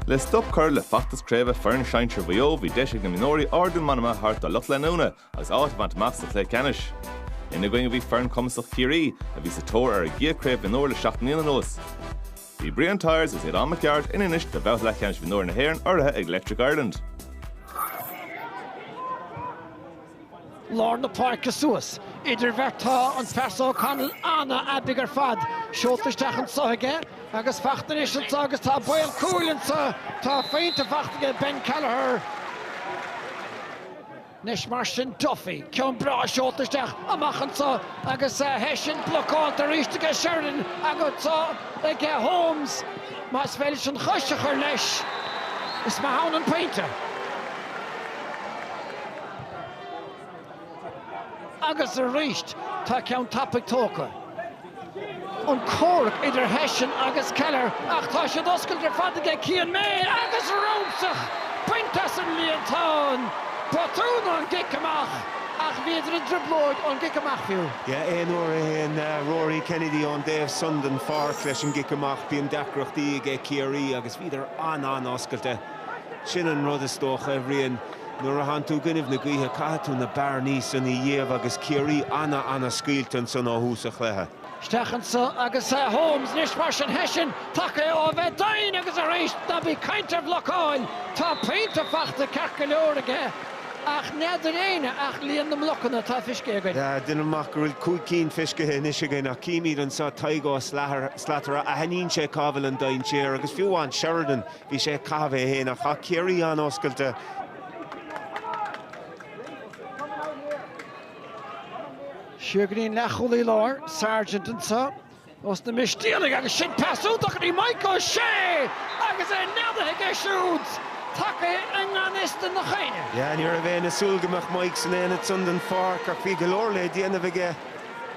Le stop curtha le feachtas craoibhe foireann sinsir Mhaigh Eo bhí deis ag na mionúirí ardú meanma thabhairt dá lucht leanúna agus áit a bhaint amach sa chluiche ceannais. Ina gcoinne bhí foireann cumasach Chiarraí, a bhí sa tóir ar a gcéad chraobh mionúr le seacht mbliana anuas. Bhí Brian Tyers agus Aodán Mac Gearailt in Inis do bhabhta leathcheannais mhionúir na hÉireann urraithe ag Electric Ireland. lár na páirce suas. Idir bheirt tá an fear seo, O'Connell, an-aibidh ar fad. Seolta isteach anseo aige agus fachta anois anseo agus tá baol cúil anseo. Tá pointe fachta aige Ben Kelliher. Anois mar sin Duffy, ceann breá seolta isteach amach anseo agus Hession blocáilte arís aige Sheridan agus anseo aige Holmes. Más féidir leis an chois a chur leis, is maith ann an pointe. Agus arís tá ceann tapaidh tógtha. An comhrac idir Hession agus Kelliher ach tá siad oscailte ar fad aige Cian May agus rúscadh bainte as an líontán! Botún ón gcic amach ach bhíodar i dtrioblóid ón gcic amach fiú. Yeah, aon uair a théann Rory Kennedy ón dtaobh san den pháirc leis an gcic amach bíonn deacrachtaí aige Ciarraí agus bhíodar an-an-oscailte. Sin an rud is dócha, a Bhriain. Nuair a théann tú i gcoinnibh na gaoithe caithfidh tú na bearnaí san a iamh agus Ciarraí ana-ana-scaoilte ansan ó thús a' chluiche. Isteach anso agus eh Holmes, anois mar sin Hession taca é ó a bheith doinn agus aríst ná bí 'caint ar bhlocáil, tá pointe fachta ceart go leor aige ach n'fheadair éinne ach líon na mblocanna atá fiscithe againn. Ah, deinim amach go bhfuil cúig cinn fiscithe anois againn ach címid anso Tadhg Ó Slatara, aithníonn sé cá bhfuil an dainséar agus fiú amháin Sheridan, Bhí sé ag caitheamh é fhéin, ach chaith Ciarraí an-oscailte. Siar go dtí an leathchúlaí láir, Sargent anseo ós na Mistéalaigh agus sin pas iontach go dtí Maidhc Ó Sé agus é neadaithe aige siúd, tagaithe i ngan fhios do na Cait. Yeah, ní raibh aon súil go mbeadh Maidhc san ionad san den pháirc ach bhí go leor le déanamh aige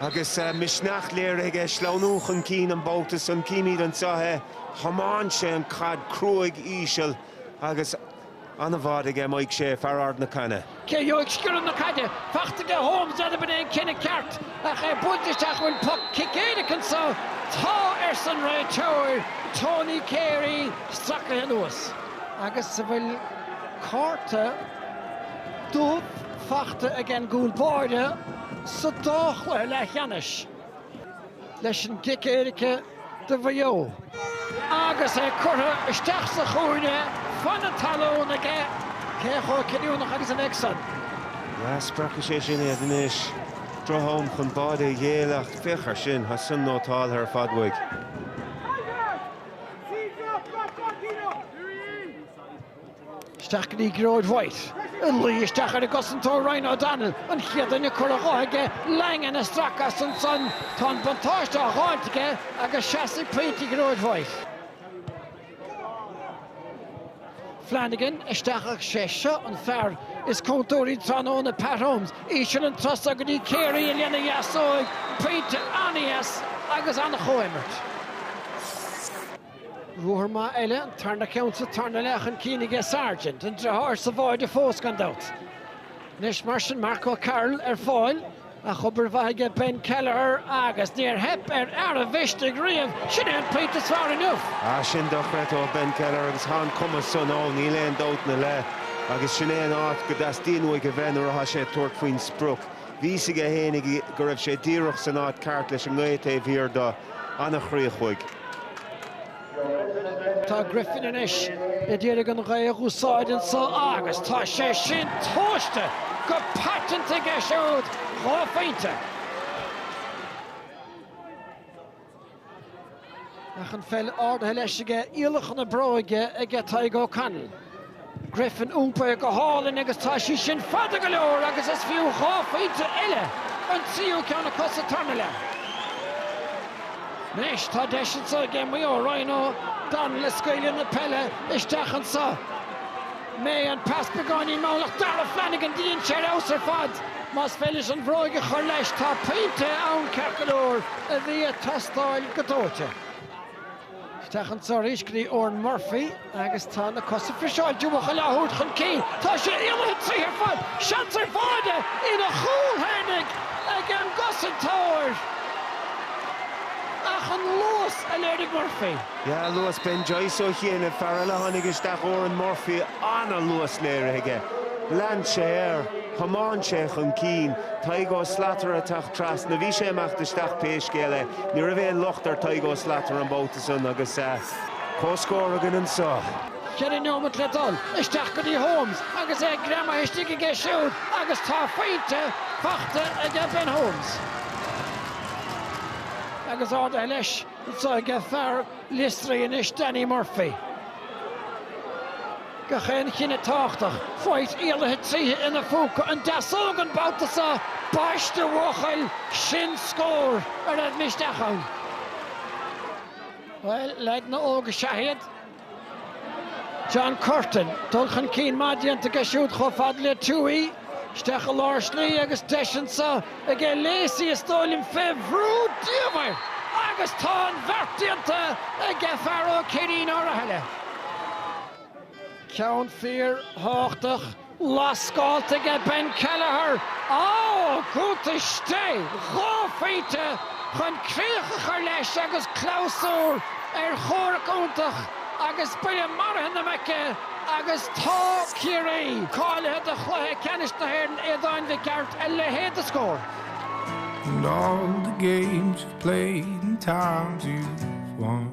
agus misneach léirithe aige sleamhnú chun cinn an babhta san. Címid anseo é. Thiomáin sé an chaid cruaidh íseal agus an-bháide aige Maidhc Ó Sé, fear Ard na Caithne. Cé a gheobhaidh sciorradh na caide? Fachta aige Holmes N'fheadar ab in é an cinneadh ceart Ach é buailte isteach Bhfuil poc cic éirice anso? Tá! arsa an réiteoir Tony Carey stracaithe anuas Agus an bhfuil cárta dubh fachta aige an gcúl báire sa dá chluiche leathcheannais. leis an gcic éirice do Mhaigh Eo. Agus é curtha isteach sa chúinne, fan na talún aige cé chomh cinniúnach agus a bheidh san. Ah spreagfaidh sé sin iad anois, droch-am chun báide a ghéilleadh, ach féach air sin, tá san nótáltha ar fad uaidh. Isteach go dtí Gearóid White ag luí isteach ar an gcosantóir Ryan O'Donnell, an chéad duine curtha dho aige, Langan ag stracadh as ansan, tá an buntáiste á dh'fháilt aige agus seasfaidh pointe Ghearóid White. Flanagan isteach ach 'sé seo an fear is contúirtí tráthnóna, Pat Holmes, íseal an turas so go dtí Carey lena dheasóig, pointe an-dheas agus an-chomhimirt. Ruathar maith eile, an tarna ceann sa tarna leath chun cinn aige Sargent, an deartháir sa bháide fós gan dabht. Anois mar sin Mark O'Carroll ar fáil, ach obair mhaith aige Ben Kelliher agus níor theip ar fhear an mhisnigh riamh, sin é an pointe is fearr inniu. Ah sin dochreidte ó Ben Kelliher agus tá an cumas san ann, níl aon dabht ina leith agus sin é an áit go dteastaíonn uaidh a bheith nuair atá sé ag tabhairt faoin sprioc. Bhí a fhios aige fhéinig go raibh sé díreach san áit ceart leis an ngaoth taobh thiar do, an-chríoch uaidh. Tá Griffin anois a d'iarraidh an ghaoth a dh'úsáid anso agus tá sé sin tomhaiste go paiteanta aige siúd dhá phointe. Ach an pheil ardaithe leis aige, iallacha na bróige aige Tadhg O'Connell. Griffin iompaithe go hálainn agus tá sí sin fada go leor agus is fiú dhá phointe eile, an tríú ceann acu sa tarna leath. Anois tá deis anso aige Maigh Eo, Ryan O'Donnell ag scaoileadh na peile isteach anso. mbeidh an pas beagáinín mall ach Dara Flanagan dhein sé ar fheabhas ar fad. Más féidir leis an bhróig a chur leis tá pointe ann ceart go leor, a bhí ag teastáil go dóite. Isteach an turas so go dtí Oran Murphy agus tá na cosa friseáilte uachail á thabhairt chun cinn. Tá sé imithe tríothu ar fad, seans ar bháide ina chúl féinig ag an gcosantóir ach an luas a léirigh Murphy, Yeah, luas Ben Joyce ó chianaibh, fear eile a tháinig isteach, Oran Murphy, an-luas léirithe aige. Lean sé air, thiomáin sé chun cinn, Tadhg Ó Slatara ag teacht trasna, bhí sé ag imeacht isteach pé scéal é, ní raibh aon locht ar Thadhg Ó Slatara an babhta san agus comhscór againn anseo. Ceithre neomat le dul, isteach go dtí Holmes agus é greamaithe istigh aige siúd agus tá pointe faighte aige Ben Holmes agus ardaithe leis. Tá ag fear Liostrai anois, Danny Murphy. Gach aon chinneadh tábhachtach faighte éalaithe tríthi ina phúca an deasóg an babhta seo. Baiste a bhuachaill, sin scór a raibh misneach ann. Bhuel, leaideanna óga is ea iad. John Curtin, dul chun cinn maith déanta aige siúd chomh fada le Tuohy, isteach i lár slí agus deis anseo aige Lacey is dóigh liom fé bhrú diamhair agus tá an bheart déanta aige fear Ó Céirín Uí Rathaille. Ceann fíor thábhachtach. Lasc scaoilte aige Ben Kelleher ó Ghuth istigh, dhá phointe chun críoch a chur leis agus clabhsúr ar chomhrac iontach agus buille maraithe na muice agus tá Ciarraí cáilithe do chluiche ceannais na hÉireann, Aodáin Mhic Gearailt a leithéid de scór! And all the games you've played and times you've won.